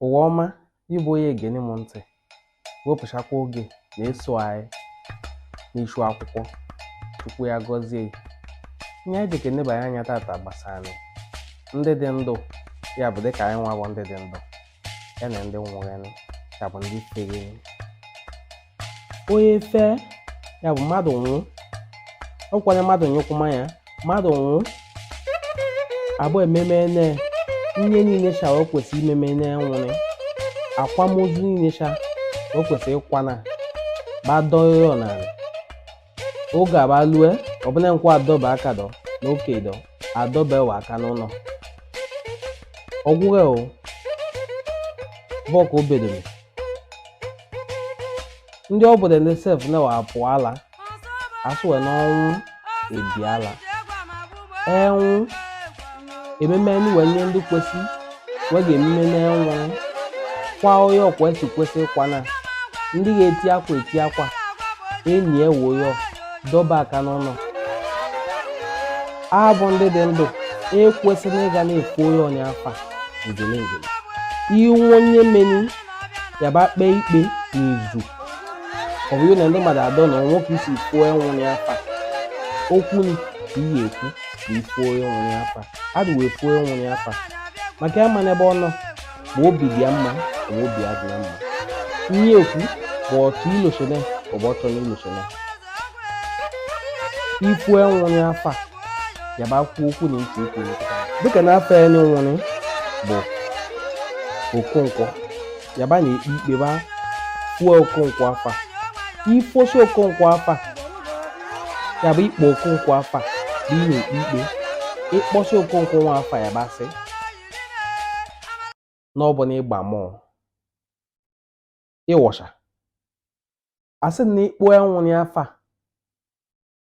Ụwa ọma, gị bụ onye egene m ntị, wepụchakwa oge na-eso anyị n'ichu akwụkwọ Chukwu ya gọzie gị. Ihe anyị jikere nebanye anya tata gbasara ndị dị ndụ ya bụ dịka anyị nwa bụ ndị dị ndụ ya na ndị nwụrụ ya bụ ndị fere onye fee ya bụ mmadụ nwụọ ọkwanye mmadụ nyụkwụma ya mmadụ nwụọ abụ ememe ne ihe niile sha o kwesị imeme ne nwụrị akwamozu niile sha o kwesị ịkwana gbadọọ ya n'ala oge aba lue ọbụla nkwa adọba aka dọ n'oke dọ adọba ewe aka n'ụlọ ọgwụghị o bọk obedoro ndị obodo ndị sef na-apụ ala asụwe n'ọnwụ ebiala enwụ ememe nị wee nye ndị kwesị wee ga-ememe n'enwụ kwa onye ọkwa esi kwesị ịkwa na ndị ga-eti akwa eti akwa enyi ewo ya dọba aka n'ụlọ abụ ndị dị ndụ ekwesịrị ịga na-efu onye ọnya afa njele njele iwu onye meni yaba kpee ikpe n'izu ọ bụrụ na ndị mmadụ adọ na nwoke isi fuo enwụrụ ya afa okwu ni ka iyi ekwu ka ifuo enwụrụ ya afa adụ wee fuo enwụrụ ya afa maka ya ma n'ebe ọ nọ ma obi dị ya mma ma obi adị ya mma ihe ekwu bụ ọtụ ilosone ma ọ bụ ọtọ n'ilosone ifu enwụrụ ya afa ya ba kwuo okwu na ntị ukwu dịka n'afa ya nwụrụ bụ okonkwo ya ba na-ekpe ikpe ba fuo okonkwo afa ifosi okonkwo afa ya bụ ikpo okonkwo afa bụ ị na-ekpe ikpe ịkpọsị okonkwo nwa afa ya ba sị na ọ bụ na ịgba mọọ ịwọcha asị na ịkpọ ya nwụrụ ya afa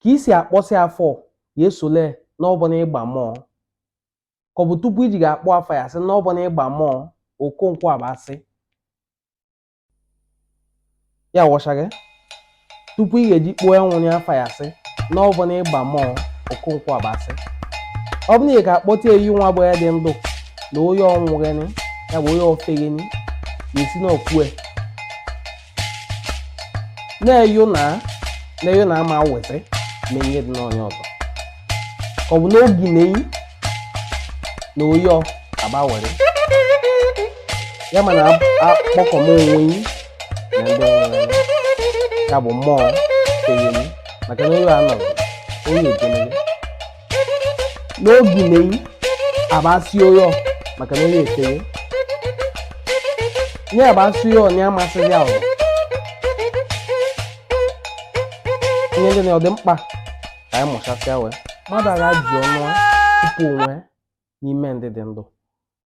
kà i sì àkpọsị afa yà esòle n'ọbụ nà ịgbà mọọ kà ọ bụ̀ tupu i jì gà-àkpọ afa yà sị n'ọbụ nà ịgbà mọọ òkonkwọ àba sị ya wọ̀chà gị tupu i gà-èji kpọọ ya nwụnye afa yà sị n'ọbụ nà ịgbà mọọ òkonkwọ àba sị ọ bụ nà ị gà-àkpọta eyi nwa bụ ya dị ndụ na onye nwụghịnị ya bụ onye feghịnị ya sị n'ọkwue na-eyo na na-eyo na ama weta na ihe dị n'onye ọzọ ka ọ bụ n'oge na-eyi na oyi ọ aba were ya ma na akpọkọ m onwe yi na ndị nwere ya bụ mmụọ eyemi maka na oyi anọghị oyi ekeneghi n'oge meyi abasị ụyọ maka na onye eteghị nye abasị ụyọ na amasịghị ahụ ihe ndị na ọ dị mkpa ka anyị mụchasịa wee mmadụ agha ji ọnụ tupu onwe n'ime ndị dị ndụ